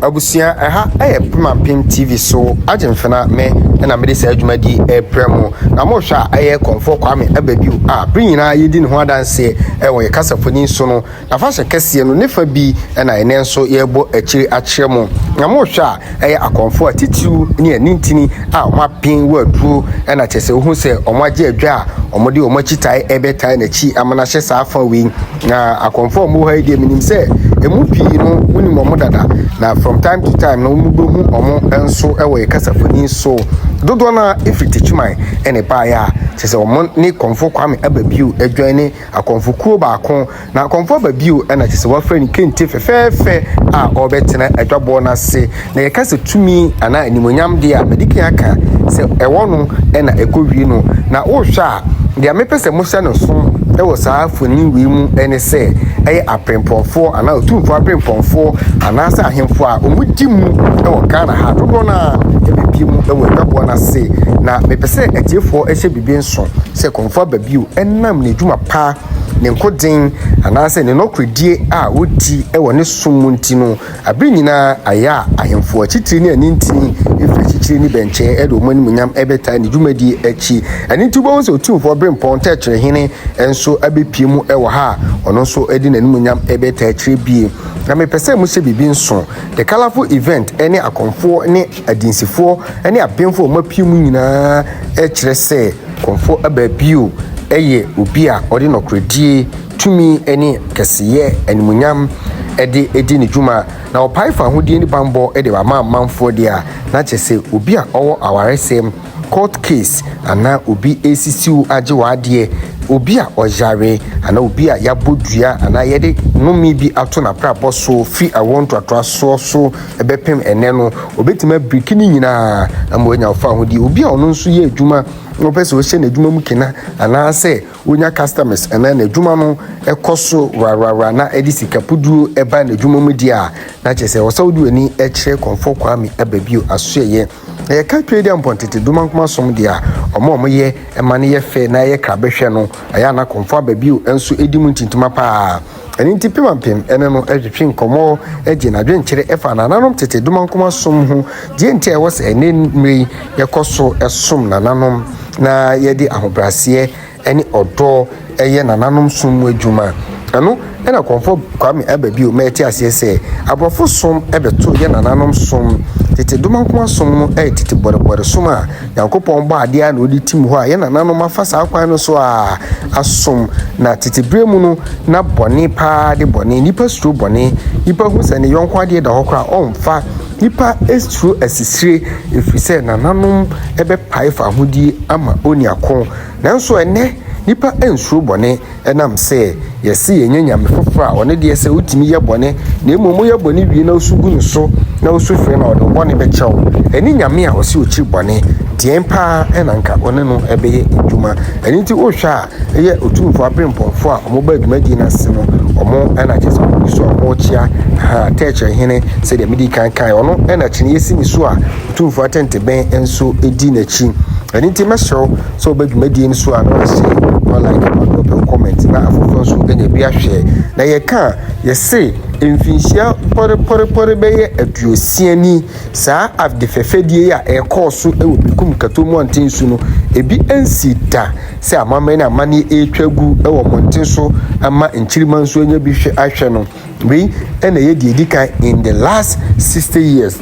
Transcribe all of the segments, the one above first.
Abusua ɛha ɛyɛ Pema Pem TV so Agyenfena me ɛna mede saa adwuma di ɛreprɛ mo na mohwɛ a ɛyɛ Kɔmfoɔ Kwame Abadiu a bere nyinaa yɛdi ne ho adanseɛ ɛwɔ yɛ kasafoni so no nafahyɛ kɛseɛ no ne fa bi ɛna ɛnɛ nso yɛrebɔ akyire akyerɛ mo na mohwɛ a ɛyɛ akɔmfoɔ atitiriw ne anintini a wɔn apen wɔ aduro ɛna kyɛsɛ wohu sɛ wɔn agye adwa a wɔn de wɔn akyitae ɛrebɛtae n'akyi ama no ahyɛ saa fa wei Na akɔmfo a wɔwɔ ha yi deɛ menim sɛ ɛmu pii no wonim wɔn dada na from time to time no wɔbɛhu wɔn nso wɔ yɛ kasafoni so dodoɔ no a ɛfiri takyiman ɛne baeɛ a kyɛ sɛ wɔn ne kɔmfo kwame aba bio adwan ne akɔmfo kuo baako na akɔmfo aba bio ɛna kyɛ sɛ wɔafrɛ ne kente fɛfɛɛfɛ a ɔbɛtena adwaboɔ no ase na yɛka sɛ tumi anaa animuonyam deɛ a, madi kan aka sɛ ɛwɔ no na ɛkɔwie no. Na wohwɛ a, deɛ mepɛ sɛ mohyɛ no so wɔ saa mfoni wei mu ne sɛ, ɛyɛ aprempɔnfoɔ anaa otumfoɔ aprempɔnfoɔ anaasɛ ahemfo a wɔdi mu wɔ Ghana ha. Dodoɔ no ara ɛbɛpie mu wɔ adwaboɔ no ase. Na mepɛ sɛ atiefoɔ hyɛ biribi nso sɛ Kɔmfo aba bio ɛnam n'adwuma pa, ne nkoden anaasɛ ne nɔkorɛdie a ɔdi wɔ ne som mu nti no. Aber nyina ayɛ a ahemfo akyitri ne anintsin efi akyikyer ne bɛnkyɛn de wɔn animuonyam bɛtaa ne dwumadie akyi. Ɛno nti wobɛhu sɛ Otumfoɔ Oberempɔn Tɛkyerɛ Hene nso abɛpue mu wɔ ha a ɔno nso de n'animuonyam bɛtaa akyire bie. Na mepɛ sɛ mohyɛ biribi nso, The Colourful Event ne Akɔmfoɔ ne Adinsifoɔ ne Abenfo a wɔapue mu nyinaa kyerɛ sɛ Kɔmfoɔ Abaa Bio yɛ obi a ɔde nɔkorɛdie tumi ne kɛseyɛ animuonyam de adi ne dwuma, na ɔpae fahodie ne bammɔ de ba ma amanfoɔ deɛ a, na kyerɛ sɛ obi a ɔwɔ awaresɛm, court case, anaa obi resisi wo agye w'adeɛ, obi a ɔyare, anaa obi a yɛabɔ dua anaa yɛde nnome bi ato n'abrabɔ so firi awoɔ ntoatoasoɔ so bɛpem ɛnnɛ no, ɔbɛtumi abiriki ne nyinaa ama wanya wo fahodie. Obi a ɔno nso yɛ adwuma na ɔpɛ sɛ ɔhyɛ n'adwuma mu kena anaasɛ Wonya customers anaa n'adwuma no kɔ so wrawrawra na ɛde sika puduro ba n'adwuma mu deɛ a, na kyerɛ sɛ ɛwɔ sɛ wode w'ani kyerɛ Kɔmfoɔ Kwame aba bio asoɛeɛ. Na yɛka Twei Dɛ Mpɔn Tete Domankoma Som deɛ a, wɔn a wɔyɛ ma no yɛ fɛ na ɛyɛ krabɛhwɛ no, ɛyɛ a na Kɔmfoɔ aba bio nso di mu ntintima pa ara. Ɛno nti Pemampem ne no retwetwe nkɔmmɔ gye n'adwenkyerɛ fa nananom tete domankoma som ho, deɛ nti a ɛwɔ sɛ ɛnnɛ mmerɛ yi yɛkɔ so som nananom na yɛde ahobrɛaseɛ ne ɔdɔ yɛ nananom som mu adwuma. Ɛno na Kɔmfɔ Kwame aba bio ma yɛte aseɛ sɛ aborɔfo som bɛto yɛ nananom som, tete domankoma som no yɛ tete bɔrebɔre som a, Nyankopɔn bɔɔ adeɛ ara na ɔde tim hɔ a yɛn nananom afa saa kwan no so a asom. Na tete berɛ mu no na bɔne paa de bɔne. Nipa suro bɔne. Nipa hu sɛ ne yɔnko adeɛ da hɔ koraa a ɔmfa. Nipa suro asisire ɛfiri sɛ nananom bɛpae fahodie ama oniako. Nanso ɛnnɛ nipa nsuro bɔne. Ɛnam sɛ yɛse yɛnya Nyame foforɔ a ɔno deɛ sɛ wotumi yɛ bɔne na mmom woyɛ bɔne wie na wosu gu no so na wosu frɛ no a ɔde wo bɔne bɛkyɛ wo ɛne Nyame a ɔse ɔkyiri bɔne deɛn paa na nka ɔne no bɛyɛ adwuma ɛno nti wohwɛ a ɛyɛ Otumfoɔ aberempɔnfoɔ a ɔmo baa dwumadie no ase no ɔmo na kyɛ sɛ ɔmo gu so a ɔmo kyea ha tɛɛkyerɛ hene sɛdeɛ medi kan kae ɔno na kyene yɛsi ne so a Otumfoɔ atɛntebɛn nso di n'akyi ɛno nti mɛsrɛ wo sɛ ɔba dwumadie no so a na wahyɛ ma like ma dɔ bɛ comment na afoforɔ nso ɛna ɛbi ahwɛ na yɛka a yɛse mfinhyia pɔrepɔrepɔre bɛyɛ aduosia ni saa ade fɛfɛdie a ɛkɔɔ so wɔ Bekum Kato mmɔnten so no ebi nsi da sɛ amammerɛ ne amanneɛ ɛretwa gu wɔ mmɔnten so ama nkyirimma nso anya bi hwɛ ahwɛ no Wei na ɛyɛ deɛ ɛdi kan in the last sixty years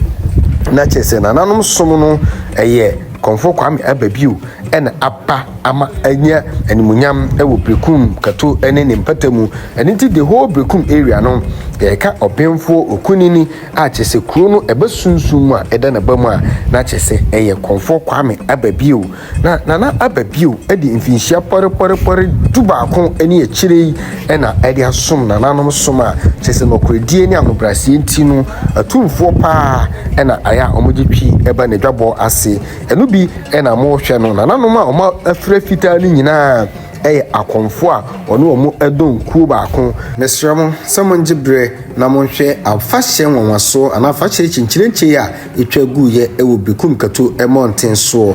na kyerɛ sɛ nananom som no ɛyɛ Kɔmfɔ Kwame aba bio ɛna aba ama anya animuonyam ɛwɔ Berekum Kato ɛne ne mpata mu ɛno nti the whole Berekum area no yɛka Ɔbenfoɔ Okunini a kyerɛ sɛ kuro no ɛba sunsum mu a ɛda n'aba mu a na kyerɛ sɛ ɛyɛ Kɔmfɔ Kwame aba bio Na Nana aba bio de mfinhyia pɔrepɔrepɔre dubaako ne akyire yi na ɛde asom nananom som a kyerɛ sɛ nɔkorɛdie ne ahobrɛaseɛ nti no atumfoɔ paa na ayɛ a wɔgye twi ba n'adwabɔ ase. Ɛno bi na mohwɛ no nananom a wɔafira fitaa no nyinaa yɛ akɔmfoɔ a wɔne wɔn dɔn kuo baako. Mesrɛ mo sɛ mongye berɛ na monhwɛ afahyɛ nwanwasoɔ anaa afahyɛ kyenkyenenkyee a ɛtwa guiɛ wɔ Bekum Kato mmɔnten soɔ.